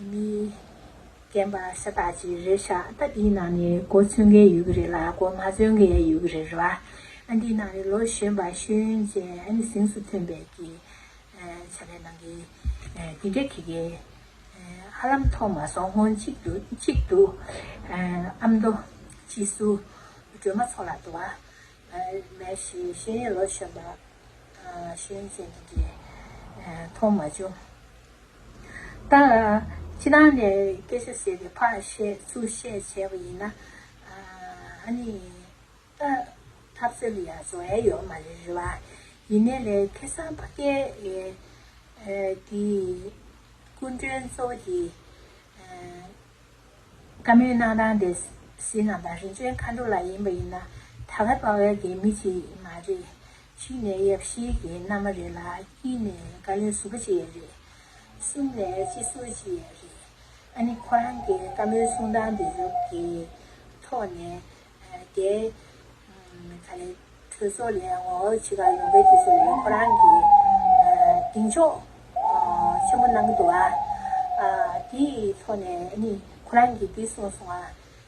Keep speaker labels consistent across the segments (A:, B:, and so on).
A: མི་རྒན་པ་ཤ་སྟག་ཅིག་རེད་ཤ་སྟག་འདིའི་ནང་ནས་གོ་མཚོན་མཁན་ཡོད་ཀྱི་རེད་ལ་གོ་མ་མཚོན་མཁན་ཡང་ཡོད་ཀྱི་རེད་རེད་བ། ཨ་འདིའི་ནང་ནས་ལོ་གཞོན་པ་ཤེས་ཡོན་ཅན་ཨ་ནི་གཟེངས་སུ་ཐོན་པའི་གི་བྱ་བའི་ནང་གི་འདི་འདྲ་གི་གི་ཨ་ལམ་མཐོང་མ་སོང་སྔོན་གཅིག་དུ་གཅིག་དུ་ཨ་མདོ་སྤྱི་སུ་སྒྲོལ་མ་མཚོ་ལགས་འདུག་བ། མ་གཞི་ཤེས་ཡོན་ལོ་གཞོན་པ་ཤེས་ཡོན་ཅན་འདི་འདྲས་མཐོང་མ་བྱུང། ད། ཁྱེད་རང་ལས་སྐད་ཆ་ཟེར་བའི་ཕར་བཤད་ཚུར་བཤད་བྱས་པ་ཡིན་ན། ཨཱ་ནི། ད། ཐབས་རྩལ་ལ་ཡང་བཟོ་ཨེ་ཡོད་མ་རེད་རེད་བ། ཡིན་ནའི་ལས་ཁེ་སང་ཕ་སྐད། དེ། སྐུ་མགྲོན་གཙོ་བོ་དེ། བཀའ་མོལ་གནང་སྟངས་དེ། སེ་ནང་པ་རིན་ཆེན་མཁའ་འགྲོ་ལགས་ཡིན་པ་ཡིན་ན། ད་ག་པ་བའི་སྒེར་མི་ཞིག་མ་རེད། ཕྱི་ནས་ཡབ་གཞིས་ཀྱི་མནའ་མ་རེད་ལ་དཀྱིལ་ནས་བཀའ་བློན་ཟུར་པ་ཅིག་ཡང་རེད། གསུམ་ནས་སྤྱི་ཟུར་ཅིག་ཡང་རེད། ཨ་ནི་ཁོ་རང་གི་བཀའ་མོལ་གསུང་སྟངས་དེ་ཚོ་གི་ཐོག་ནས། དེ། ག་ལེ། གྲོས་ཚོགས་ལས་ངོ་རྒོལ་བྱེད་ཁག་ཡོང་པའི་དུས་ཚོད་ལས་ཁོ་རང་གིས། གདེང་འཇོག། ཆེན་པོ་གནང་གི་འདུག་ཨ། དེའི་ཐོག་ནས་ཨ་ནི་ཁོ་རང་གིས་འདི་གསུངས་སོང་ཨ།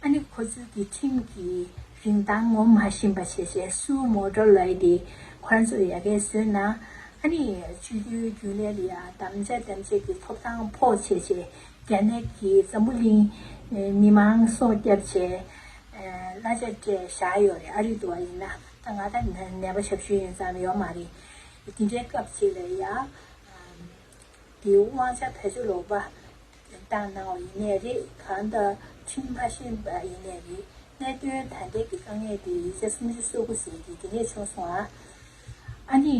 A: ཨ་ནི་ཁོ་ཚོས་ཀྱི་ཁྲིམས་ཀྱི་རིན་ཐང་ངོ་མ་ཤེས་པ་ཤེས་ཤེས་སུ་མོ་དྲོ་ལོས་དེ་ཁོ་རང་ཚོ་ཡ་གས་བཟོས་ན། ཨ་ནི་ཆོས་རྒྱུད་རྒྱུན་ལས་ལ་དམ་བཅའ་དམ་བཅས་ཀྱི་ཐོབ་ཐང་ཕོག་བྱས་བྱས་རྒྱ་ནད་ཀྱི་འཛམ་བུ་གླིང་མི་མང་སྲོག་བསྐྱབས་བྱས། གླ་ཆ་སྤྲད་བཞག་ཡོད་རེད་ཨ་རི་དུ་བ་ཡིན་ན་ད་ང་ད་ནད་པ་ཞབས་ཞུ་ཡོད་ཙམ་ཡོད་མ་རེད་དེ་འདྲའི་སྐབས་ཅིག་ལ་ཡ། དེའི་དབང་ཆ་བེད་སྤྱོད་ལོག་པ། དེ་ལྟ་ན་བ་ཡིན་ནའི་རེད་གང་ལྟར་ཁྲིམས་མ་ཤེས་པ་ཡིན་ནའི་རེད་གནད་དོན་ད་ལྟའི་གི་དཀའ་ངལ་དེ་ཡིག་ཆ་སུམ་ཅུ་སོ་དགུ་ཟེར་གི་དེ་ནས་བྱུང་སོང་ཨ། ཨ་ནི།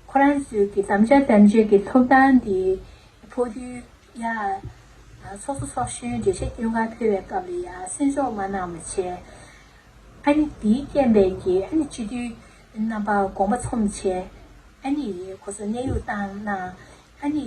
A: ཁོ་རང་ཚོས་གི་དམ་བཅའ་དམ་བཅའ་གི་ཐོབ་ཐང་དེ་ཕོག་དུས་ཡ། ཚོགས་གཙོ་ཚོགས་གཞོན་འགྲེལ་བཤད་སྐྱོན་གང་ཕེལ་བའི་སྐབས་ལ་ཡ་གསན་འཇོག་མ་གནང་བ་བྱས། ཨ་ནི་དེའི་རྐྱེན་པས་གི་ཨ་ནི་སྤྱི་འཐུས་རྣམ་པ་དགོངས་པ་ཚོམས་བྱས། ཨ་ནི་ཁོ་ཚོ་གནས་དབྱུག་བཏང་གནང། ཨ་ནི།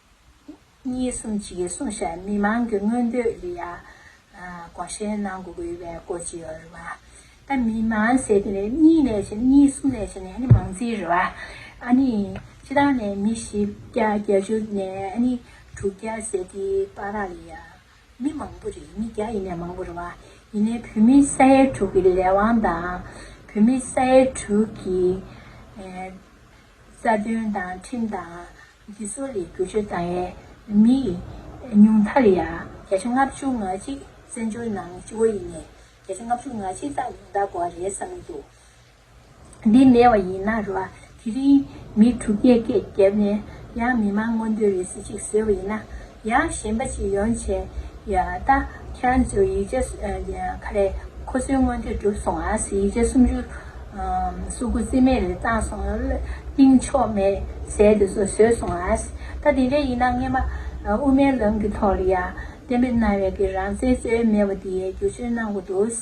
A: གཉིས་གསུམ་བཅས་ཀྱི་གསུང་བཤད་མི་མང་གི་མངོན་འདོད་ལས་ཡག་གོང་བཤད་གནང་དགོས་པའི་བཀོད་ཀྱི་ཡོད་རེད་བ། ད་མི་མང་ཟེར་དེ་ནས་གཉིས་ནས་བྱས་གཉིས་གསུམ་ནས་བྱས་ནས་ཨ་ནི་མང་རྩིས་རེད་བ། ཨ་ནི་ཕྱི་ལྟར་ནས་མི་བཞི་བརྒྱ་བརྒྱད་ཅུ་ནས་ཨ་ནི་དྲུག་བརྒྱ་ཟེར་དེ་པ་ར་ལས་ཡག་མི་མང་པོ་རེད་མི་བརྒྱ་ཡིན་ནས་མང་པོ་རེད་བ། ཡིན་ནས་བོད་མི་ས་ཡ་དྲུག་གི་ལས་དབང་དང་བོད་མི་ས་ཡ་དྲུག་གི་རྩ་དོན་དང་ཁྲིམས་དང་ཀྱི་སྲོལ་ལས་བསྒྱུར་བཅོས་བཏང་ཡས་མི་ཉུང་མཐར་ཡང་བརྒྱ་ཆ་ལྔ་བཅུ་ང་གཅིག་བཙན་བྱོལ་ནང་སྤྱི་བོ་ཡིན་ནས་བརྒྱ་ཆ་ལྔ་བཅུ་ང་གཅིག་དག་ཡོང་དག་གོ་བ་རེད་བསམ་གྱི་འདུག་འདི་མེད་བ་ཡིན་ན་རེ་བ་དེ་རིང་མི་དྲུག་བརྒྱད་བརྒྱད་བརྒྱབ་ནས་ཡང་མི་མང་མངོན་འདོད་རེ་ཟིག་ཅིག་བཟོས་བ་ཡིན་ན་ཡང་གཞན་པ་ཅིག་ཡོང་བྱས། ད་ཁྱེད་རང་ཚོས་ཡིད་ཆེས་ཁ་རས་ཁོ་ཚོའི་སྔོན་དུས་གྲུབ་སོང་ཨ་ཟེར་ཡིད་ཆེས་སུམ་ཅུ། སུ་དགུ་རྩིས་མེད་རེ་བཏང་སོང། གཏིང་ཕྱོགས་མེད་ཟས་དེ་ཚོ་ཟོས་སོང་ཨ། ད་དེ་འདྲ་ཡིན་ན་ངེད་མ་དབུ་མའི་ལམ་གྱི་ཐོག་ལ་ཡ། བསྟན་པའི་རྣ་བའི་གི་རང་བཙན་རྩོད་ཡས་མེད་པ་དེ་ཡས་བསྒྱུར་བཅོས་གནང་དགོས་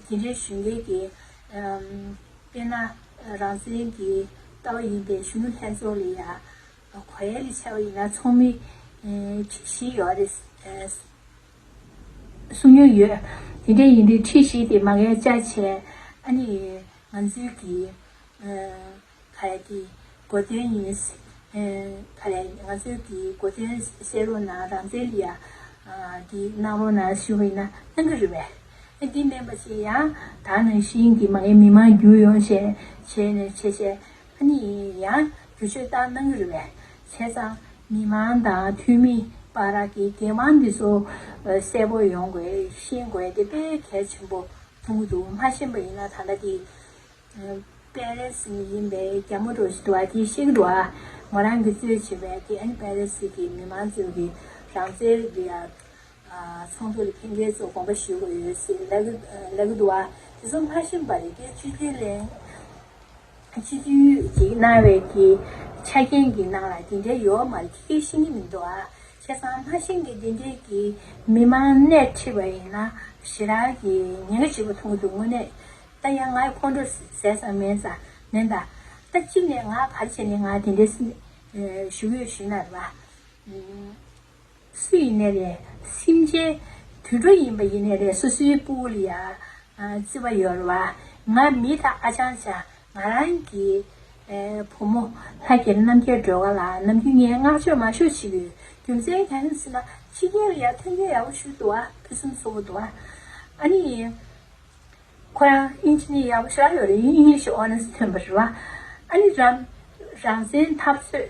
A: འདུག། དེ་འདྲའི་གཞོན་སྐྱེས་ཀྱི། དཔེ་ན་རང་བཙན་གྱི་ལྟ་བ་ཡིན་པའི་གཞོན་ནུ་ལྷན་ཚོགས་ལ་ཡ། གོ་ཡ་ལི་ཆེ་བ་ཡིན་ན་ཚོགས་མི་ཁྲི་བཞི་ཡོད་རེད་གསུང་ཡོད་ཡོད། དེ་འདྲ་ཡིན་དུས་ཁྲི་བཞི་དེ་མ་ག་ཡ་ཅག་བྱས་ཨ་ནི་ང་ཚོའི་གི་ག་ཡ་གི་གོ་དོན་ཡིན་ག་ཡ་ཡིན་ང་ཚོའི་གི་གོ་དོན་བཤད་རོགས་གནང་རང་བཙན་ལི་ཡ་གི་གནང་རོགས་གནང་ཞུ་བ་ཡིན་ན་གནང་གི་རེད་བས་ཨ་འདི་མེན་པ་བྱས་ཡང་ད་ནང་བཞིན་གི་མ་ག་ཡ་མི་མང་རྒྱུ་ཡོང་བྱས་བྱས་ནས་བྱས་བྱས་ཨ་ནི་ཡང་བསྒྱུར་བཅོས་ལྟར་གནང་གི་རེད་པས་བྱས་ཙང། མི་མང་དང་འཐུས་མི་པ་རག་གི་འགན་དབང་འདི་ཚོ་གསལ་པོ་ཡོང་དགོས་ཤེས་དགོས་དེ་དཔེ་གལ་ཆེན་པོ་འབྱུང་གི་འདུག་མ་ཤེས་པ་ཡིན་ན་ད་ལྟ་དེ་པེ་རེ་སི་ནས་ཡིན་པའི་རྒྱ་མོ་འགྲོ་བཞིན་འདུག་བ་དེ་ཤེས་ཀྱི་འདུག་ཨ་མོ་རང་གི་རྩོད་བྱེད་པས་དེ་ཨ་ནི་པེ་རེ་སི་གི་མི་མང་ཚོའི་གི་རང་རྩལ་འདི་ཡ། ཚོགས་འདུ་ལ་ཕན་ཁེ་ཚོས་དགོངས་པ་ཞུ་དགོས་ཡོད་ཟེར། ལ་ཀི་དུ་བ། དེ་ཚོ་ལྷ་ཤིང་པ་རེད་དེ་སྤྱི་འཐུས་གླེང། སྤྱི་འཐུས་ཀྱི་གནང་བའི་དེ་ཆ་རྐྱེན་གྱི་ནང་ལ་དེ་འདྲའི་ཡོད་མ་རེད་ཁྱི་སྐད་ཤེས་ཀྱི་མི་འདུག་ཨ། བྱས་ཙང་ལྷ་ཤིང་གི་དེ་འདྲའི་གི་མི་མང་སྣེ་ཁྲིད་པ་ཡིན་ན་ཞེ་རག་གི་ཉེན་ཁ་ཆེན་པོ་མཐོང་གི་འདུག་དངོས་གནས། ད་ཡང་ང་ཁོང་ཁྲོ་ཟས་ཙང་མེད་ཙང་མེད་ད། ད་གཅིག་ནས་ང་བར་ཆད་ནས་ང་དེ་འདྲའི་ཞུ་གི་ཡོད་ཞུས་ན་རེ་བ། སུ་ཡིན་ནས་རེད། སེམས་ཅན། དུད་འགྲོ་ཡིན་པ་ཡིན་ནས་རེད་སོ་སོའི་སྤུ་བོ་ལ་ཡ། བརྩི་བ་ཡོད་རེད་བ། ང་མི་ད་ཨ་ཅང་བྱ། ང་རང་གི། བུ་མོ། ལྷ་རྒྱལ་རྣམ་རྒྱལ་སྒྲོལ་དགའ་ལགས་ནམ་རྒྱུན་ངས་བསྔགས་བརྗོད་མ་ཤོར་བྱེད་ཡོད། རྒྱུ་མཚན་ག་ཡིན་ཟེར་ན། ཕྱི་རྒྱལ་ལ་ཡར་ཐོན་རྒྱུ་ཡག་པོ་ཞུས་འདུག་བ། ཕུན་སུམ་ཚོགས་པོ་འདུག་བ། ཨ་ནི། ཁོ་རང་དབྱིན་ཇི་ནི་ཡག་པོ་ཤོར་ཡོད་རེད་དབྱིན་ཡིག་ཤོག་ཨོ་ནི་སི་ཐོན་པ་རེད་བ། ཨ་ནི། རང་བཙན་འཐབ་རྩོད།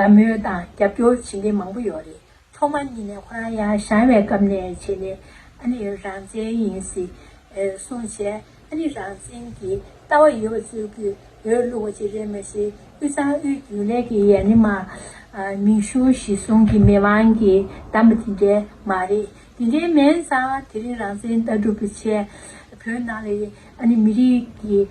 A: དགའ་མོས་དང་རྒྱབ་སྐྱོར་བྱེད་མཁན་མང་པོ་ཡོད་རེད་ཐོག་མ་ཉིད་ནས་ཁོ་རང་ཡང་ཞང་བའི་སྐབས་ནས་བྱས་ནས་ཨ་ནི་རང་བཙན་ཡིན་སྲིད་གསུང་བྱས་ཨ་ནི་རང་བཙན་གྱི་ལྟ་བ་ཡོད་པ་བཙུགས་རྒྱུའི་འོས་བླུགས་པ་ཅིག་རེད་མ་གཞི་དབུས་གཙང་དབུས་རྒྱུན་ལས་ཀྱི་ཡན་ནི་མ་མིང་གཞུང་གཞི་བཟུང་གི་མི་མང་གིས་བདམས་པ་དེ་འདྲའི་མ་རེད་དེ་འདྲའི་མེན་ཙང་དེ་རིང་རང་བཙན་ལྟ་གྲུབ་བྱས་བོད་ནང་ལ་ཨ་ནི་མི་རིགས་ཀྱི།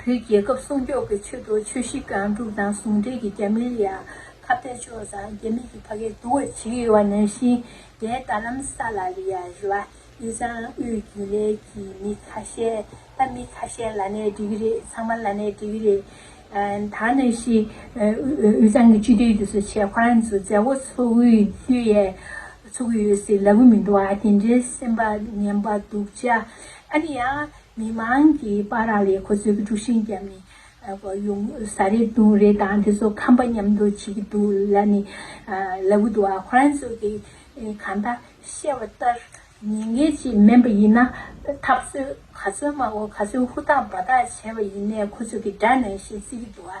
A: བོད་རྒྱལ་ཁབ་སྲུང་སྐྱོབ་ཀྱི་ཆེད་དུ་ཆོས་གཞིས་ཀ་འབྲུག་དང་ཟུང་འབྲེལ་གྱིས་རྒྱ་མིར་ཡང་ཁ་གཏད་གཅོག་ཙང་རྒྱ་མི་ཡི་ཕ་གའི་དུ་བ་བྱེད་ཀྱི་ཡོད་པ་ནང་བཞིན་རྒྱའི་རྡ་ལམ་ས་ལ་རི་ཡ་རི་བ་ཨི་ཙང་དབུས་རྒྱུན་ལས་ཀྱི་མི་ཁ་ཤས་ད་མི་ཁ་ཤས་ལ་ནས་འགྲིག་གི་རེད་ཚང་མ་ལ་ནས་འགྲིག་གི་རེད། ད་ནང་བཞིན་ཨི་ཙང་གི་སྤྱི་བདེའི་རྒྱུ་ཟོ་ཆེད་ཁོ་རང་ཚོའི་མཛད་སྒོ་ཚོགས་དབུས་རྒྱུ་ཡས་ཚོགས་ཀྱི་ཡོད་སྲིད་ལབ་གི་མི་འདུག་ཨ་དེ་འདྲའི་སེམས་པ་ངན་པ་སྡུག་ཅག་ཨ་ནི་ཡང་མི་མང་གིས་དཔའ་ར་ལས་ཁོ་ཚོའི་དཀྲུག་ཤིང་བརྒྱབ་ནས་ཡོང་ས་རེད་དུང་རེད་དང་དེ་ཚོ་ཁམས་པ་མཉམ་འདུག་བྱེད་ཀྱི་འདུག་ལ་ནི་ལ་བུ་དུ་བ་ཁོ་རང་ཚོ་གིས་གང་ལྟར་བཤད་བ་ལྟར་ཉེས་འགེལ་ཅིག་དམན་པ་ཡིན་ན་ཐབས་རྩོད་ག་ཚོད་སྨྲ་བོ་ག་ཚོད་ཧུར་ཐག་འབའ་ཐག་བྱས་པ་ཡིན་ནས་ཁོ་ཚོ་གིས་དགྲ་ནང་བཞིན་བརྩི་གི་འདུག་ཨ།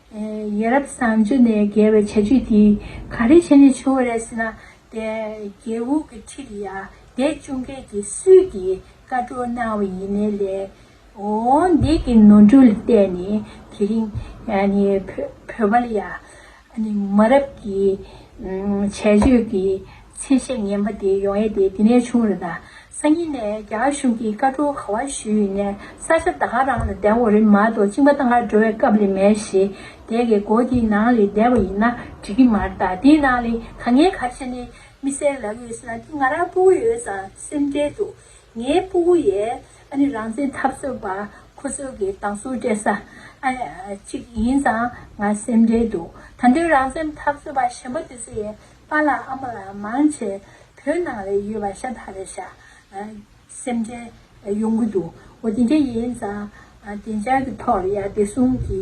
A: ཡ་རབས་བཟང་སྤྱོད་ནས་བརྒལ་བའི་བྱ་སྤྱོད་འདིས་ག་རེ་བྱས་ནས་བྱུང་བ་རེད་ཟེར་ན། རྒྱལ་བུ་གི་ཁྲི་ལ་ཡར་འདེད་བཅུག་མཁན་གྱི་སུས་ཀྱིས་བཀའ་བཀྲོལ་གནང་བ་ཡིན་ནའི་ལས། འོང་འདེད་ཀྱི་ནོར་འཁྲུལ་ལ་བལྟས་ནས་དེ་རིང་བོད་པ་ལ་ཡ་མ་རབས་ཀྱི་བྱས་སྤྱོད་ཀྱི་ཚད་གཞི་ངན་པ་དེ་ཡོང་ཡས་དེ་འདི་ནས་བྱུང་རེད་ད། སང་ཉིན་ནས་རྒྱ་གར་གཞུང་གིས་བཀའ་འཁྲོལ་ག་བ་ཞུས་ཡོད་ནའི་ས་ཆ་ད་ག་རང་ལ་བདལ་བ་རེད་མ་གཏོགས་གཅིག་མ་ད་གར་འགྲོ་བའི་སྐབས་ལས་མེད་ཞེས་དེ་གའི་སྒོ་དེའི་ནང་ལས་བདལ་བ་ཡིན་ན་འགྲིག་གི་མར་ད་དེའི་ནང་ལས་ད་ངའི་ཁ་ཆེ་ནའི་མི་སེར་ལབ་ཡོད་ཟེར་ན་དེ་ང་རང་སྤུ་གུ་ཡོད་ཙང་སེམས་ཁྲལ་འདུག་ངའི་སྤུ་གུ་ཡས་ཨ་ནི་རང་བཙན་འཐབ་རྩོད་པ་ཁོ་ཚོས་གི་སྡང་ཟུག་སྤྲད་ས་ཨ་ཅིག་ཡིན་ཙང་ང་སེམས་ཁྲལ་འདུག་ད་འདོད་རང་བཙན་འཐབ་རྩོད་པ་གཞན་པ་དེ་ཚོ་ཡས་པཱ་ལ་ཨ་མ་ལ་མང་བྱས་བོད་ནང་ལས་ཡོད་པ་ཤ་ད་རེད་ཤ་སེམས་ཁྲལ་ཡོང་གི་འདུག་འོ་དེ་འདྲ་ཡིན་ཙང་བདེ་འཇགས་ཀྱི་ཐོག་ལ་ཡར་བདེ་སྲུང་གི་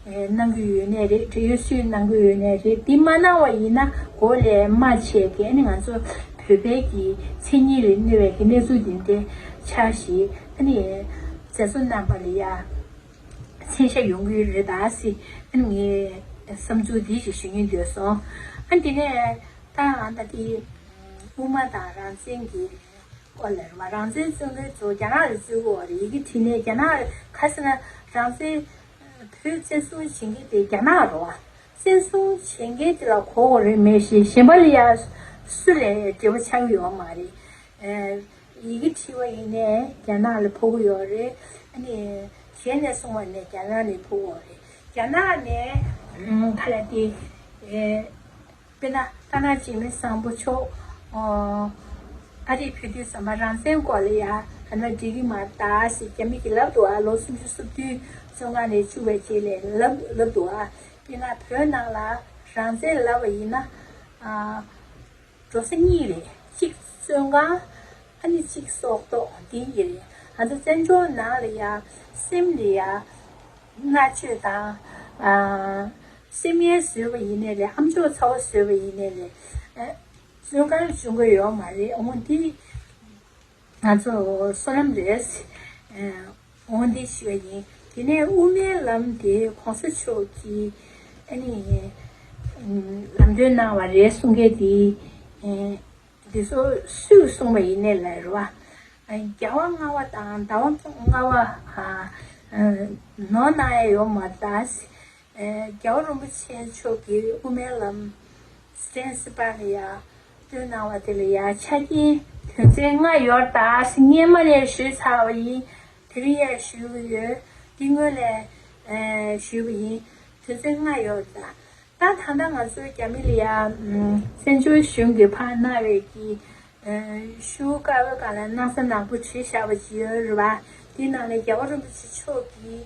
A: གནང་གི་ཡོད་ནའི་རེད་བྲེལ་ཡོད་སུས་གནང་གི་ཡོད་ནའི་རེད་དེ་མ་གནང་བ་ཡིན་ན་གོ་ལས་མ་བྱས་ཀྱི་ཨ་ནི་ང་ཚོ་བོད་པའི་གི་མཚན་ཉིད་ལས་གནོད་བའི་གི་གནས་ཚུལ་འདི་འདྲ་ཆགས་ཤིག་ཨ་ནི་མཛད་གཙོ་རྣམ་པ་ལ་ཡར། མཚན་ཤ་ཡོང་གི་ཡོད་རེད་ད་སི་ཨན་ངའི་བསམ་ཚུལ་དེ་ཞིག་ཞུ་ཉེན་འདོད་སོང་ཨ་དེ་ནས་ད་ཨ་ད་དེ་དབུ་མ་དང་རང་བཙན་གི་སྐོར་ལ་རེད་མ་རང་བཙན་བཙོན་ལེན་ཚོ་རྒྱ་ནག་ལ་བཙོན་བོ་རེད་ཡི་གེ་བྲིས་ནས་རྒྱ་ནག་ཁ་སི་ན་རང་བཙན་བོད་བཙན་བཟུང་བྱེད་མཁན་དེ་རྒྱ་ནག་རོ་བ་བཙན་བཟུང་བྱེད་མཁན་དེ་ལ་གོ་བོ་རེད་མེ་ཤི་ཤེ་མ་ལི་ཡ་སུ་ལས་འབྲེལ་བ་ཆགས་ཡོད་མ་རེད་ཡི་གེ་བྲིས་པ་ཡིན་ནས་རྒྱ་ནག་ལ་ཕོག་གི་ཡོད་རེད། ཨ་ནི་གཞན་ནས་སོང་བ་ནས་རྒྱ་ནག་ནས་ཕོག་འོང་རེད། རྒྱ་ནག་ནས་ཁ་ལ་དེ། དཔེར་ན་རྟ་ནག་འཇིགས་མེད་བཟང་པོ་མཆོག་ཨ་རིར་ཕེབས་དུས་ཟ་མ་རང་བཙན་སྐོར་ལ་ཡ་ཧ་ན་འབྲི་གི་མ་རྟ་ཞེས་རྒྱ་མི་གི་ལབ་འདུག་ཨ་ལོ་སུམ་ཅུ་སོ་བདུན་བཅོ་ལྔ་ནས་བཅུ་བའི་རྗེས་ལས་ལབ་ལབ་འདུག་ཨ་དཔེར་ན་བོད་ནང་ལ་རང་བཙན་ལབ་པ་ཡིན་ན། འགྲོ་ས་གཉིས་རེད་གཅིག་བཙོན་ཁང་ཨ་ནི་གཅིག་སྲོག་ཐོག་དེ་ཡི་རེད་ང་ཚོ་བཙན་བྱོལ་ནང་ལ་ཡ་སེམས་ལས་ཡ་མངའ་སྤྱོད་དང་སེམས་ངལ་བཟོས་པ་ཡིན་ནས་ལས་ཨམ་ཅོག་ཚ་བོ་བཟོས་པ་ཡིན་ནས་ལས་བཙོན་ཁང་ལ་བྱོན་དགོས་ཡོད་མ་རེད་འོང་འདི་ང་ཚོ་སོ་ནམ་རེད། འོང་འདི་ཞུ་བ་ཡིན། དེ་ནས་དབུ་མའི་ལམ་དེ་གོང་ས་མཆོག་གིས་ཨ་ནི། ལམ་སྟོན་གནང་བ་རེད་གསུང་མཁན་དེ། འདི་ཚོ་སུས་གསུང་བ་ཡིན་ནས་ལར་བ། རྒྱ་བ་རྔ་བ་དང་ད་བ་རྔ་བ། ནོར་གནང་ཡ་ཡོད་མ་རྟགས། རྒྱ་བ་རིན་པོ་ཆེ་མཆོག་གིས་དབུ་མའི་ལམ། གསན་སྲིད་པ་ལ་ཡང་བསྟོད་གནང་བ་དེ་ལ་ཡང་ཆ་རྐྱེན་དོན་ཚན་ལྔ་ཡོད་ད་སྙན་མོ་ལས་ཞུས་ཚར་བ་ཡིན་དེ་རིང་ཡང་ཞུས་གི་ཡོད་འདི་སྔོན་ལས་ཞུས་པ་ཡིན་དོན་ཚན་ལྔ་ཡོད་ད་ད་ད་ང་ཚོའི་རྒྱ་མི་ལ་ཡང་བཙན་བྱོལ་གཞུང་གི་ཕ་མནའ་བས་ཀྱི་ཞུ་དཀའ་བོ་ག་ལ་གནང་ས་ནག་པོ་བྲིས་བཞག་པ་ཅིག་ཡོད་རེད་བ་དེ་ནང་ལ་རྒྱལ་བ་རིན་པོ་ཆེ་མཆོག་གིས་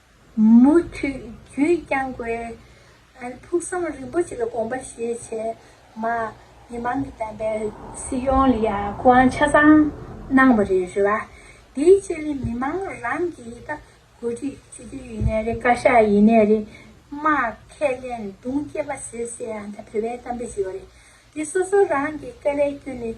A: མུ་མཐུད་རྒྱུད་བསྐྱངས་དགོས། ཕུགས་བསམ་རིན་པོ་ཆེ་ལ་དགོངས་པ་བཞེས་བྱས། མ་མི་མང་གི་དམ་པའི་སྲིད་སྐྱོང་ལ་ཡང་སྐུ་དབང་ཆ་ཚང་གནང་བ་རེད་རེད་བ། དེའི་རྗེས་ལས་མི་མང་རང་གིས་ད་གོ་སྒྲིག་བྱེད་རྒྱུ་ཡིན་ནའི་རེད་བཀའ་ཤག་ཡིན་ནའི་རེད། མ་ཁས་ལེན་དུང་སྐྱེས་པ་ཟེར་ཟེར་ཡང་ད་བོད་པའི་གཏམ་དཔེ་བྱེད་བ་རེད། དེ་སོ་སོ་རང་གིས་དཀའ་ལས་བསྐྱོན་ནས་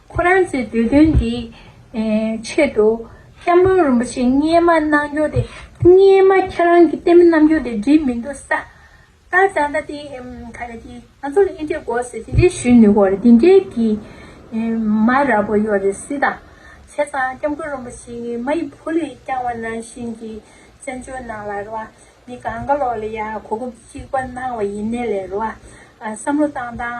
A: ཁོ་རང་ཚོའི་འདོད་དོན་དེའི་ཆེད་དུ། སྐྱབས་མགོན་རིན་པོ་ཆེ་བརྙས་མ་གནང་རྒྱུ་དེ། བརྙས་མ་ཁྱེད་རང་གི་གཏན་མི་གནང་རྒྱུ་དེ་འགྲིག་མི་འདུག་ས། ད་ད་ད་དེ་ག་རེ་དེ་ང་ཚོ་ལ་ཨེ་འགྲིག་གོ་ཟེར་དེ་འདྲའི་ཞུས་ནུས་གོ་རེ་དེ་འདྲའི་གི་མ་ར་པོ་ཡོད་རེ་སི་ད། བྱས་ཙང་སྐྱབས་མགོན་རིན་པོ་ཆེ་གི་མ་ཡི་བུ་ལས་རྐྱང་བ་ནང་བཞིན་གི་བཙན་བྱོལ་ནང་ལ་རེ་བ། མི་གང་ག་ལོག་ལ་ཡ་གོ་སྐབས་གཅིག་པ་གནང་བ་ཡིན་ནའི་ལེ་རེ་བ། བསམ་བློ་བཏང་བཏང་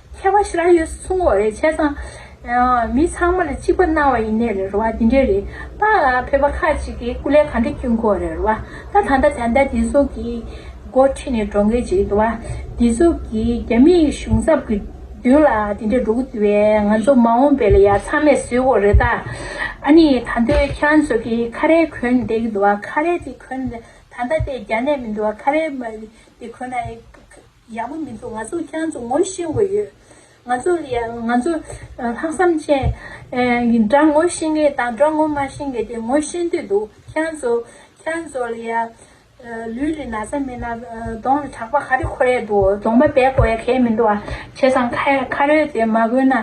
A: མཁས་པ་ཤི་ར་ཡོད་སུ་སུང་འོ་རེད་བྱས་ཙང། མི་ཚང་མ་ལ་གཅིག་པ་གནང་བ་ཡིན་ནའི་རེད་ར་བ་དེ་འདྲས་རེད་ད། བོད་པ་ཁག་ཅིག་གིས་སྐུ་ལས་གང་འདྲ་བསྐྱུར་མཁོ་རེད་ར་བ་ད། ད་ལྟ་བྱ་འདའ་དེ་ཚོ་གི་མགོ་ཁྲིད་ནས་འགྲོ་མཁན་ཅིག་འདུག་བ། དེ་ཚོ་གིས་རྒྱ་མི་གཞུང་ཚབ་གི་མདུན་ལ་དེ་འདྲས་འགྲོ་གི་འདུག་བས་ང་ཚོ་མ་འོངས་པའི་ལ་ཡ་ཚང་མས་བཟོས་འོ་རེད་ད། ཨ་ནི་ད་འདོད་ཁྱེད་རང་ཚོ་གི་ཁ་རས་གོན་བསྡད་གི་འདུག་བ་ཁ་རས་དེ་གོན། ད་ལྟ་དེ་རྒྱ་ནད་མི་འདུག་བ་ཁ་རས་དེ་གོན་ན། ཡག་པོ་མི་འདུག་ང་ཚོ་རྒྱ་མཚོ་ངོ་ཤེས་དགོས་ཡོད། ང་ཚོ་ང་ཚོ་ལྷག་བསམ་ཅན། སྒྲ་ངོ་ཤེས་མཁན་དང་སྒྲ་ངོ་མ་ཤེས་མཁན་དེ་ངོ་ཤེས་འདོད་འདུག་རྒྱ་མཚོ་རྒྱ་མཚོ་ལ་ཡ། ལུས་ལ་ན་ཚ་མེད་ན་གདོང་ལ་གྲགས་པ་ག་རེ་ཁོ་རེ་འདུག་གདོང་མ་བལ་གོ་ཡ་གལ་མི་འདུག་ཨ། བྱས་ཙང་ཁ་རོལ་དེ་མ་གོན་ན།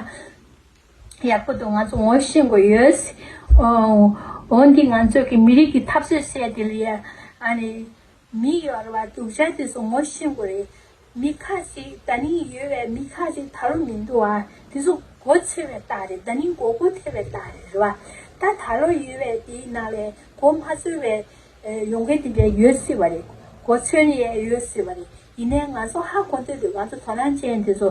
A: ཡག་པོ་འདུག་ང་ཚོ་ངོ་ཤེས་དགོས་ཡོད། འོ་འདི་ང་ཚོ་གི་མི་རིགས་ཀྱི་འཐབ་རྩོད་བསད་དེ་ལ་ཡ། ཨ་ནི། མི་གཡོར་བ་དུག་ཤ་དེ་ཚོ་ངོ་ཤེས་དགོས་རེད། མི་ཁ་ཞིག་ད་ནི་ཡོད་བས་མི་ཁ་ཞིག་ད་ལོ་མི་འདུག་ཨ། དེ་ཚོ་མགོ་ཆེ་བའི་རྟགས་རེད་ད་ནི་མགོ་སྒུར་ཐེབས་པའི་རྟགས་རེད་རེད་བ། ད་ད་ལོ་ཡོད་བས་དེའི་ནང་ལས་མགོ་མ་ཚོལ་བའི་ཡོང་མཁན་དེ་འདྲས་ཡོད་སྲིད་བ་རེད། མགོ་ཚོལ་ཡས་ཡོད་སྲིད་བ་རེད། ཡིན་ནའི་ང་ཚོ་ཧ་གོ་འདོད་འདུག་ང་ཚོ་དོ་སྣང་ཅན་དེ་ཚོ།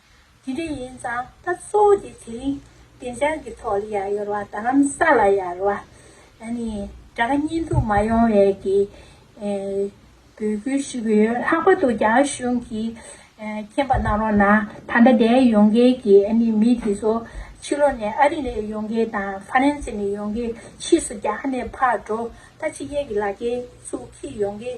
A: དེ་འདྲ་ཡིན་ཙང་ད་གཙོ་བོ་དེ་དེ་རིང་བདེ་འཇགས་ཀྱི་ཐོག་ལ་ཡར་ཡོར་བ་དང་ས་ལ་ཡར་བ། དགྲ་གཉེན་དུ་མ་ཡོང་བའི་གི་འབོད་སྐུལ་ཞུ་གི་ཡོད་ལྷག་པ་དུ་རྒྱ་གཞུང་གི་མཁྱེན་པ་གནང་རོགས་གནང་ད་ལྟ་འདས་ཡོང་མཁན་གྱི་མི་དེ་ཚོ་ཕྱི་ལོག་ནས་ཨ་རི་ནས་ཡོང་མཁན་དང་ཧྥ་རན་སེ་ནས་ཡོང་མཁན་ཕྱིས་སུ་རྒྱ་ནས་ཕར་འགྲོ་ད་ཕྱི་རྒྱལ་གྱི་ལ་རྒྱལ་ཚུགས་ཁིས་ཡོང་མཁན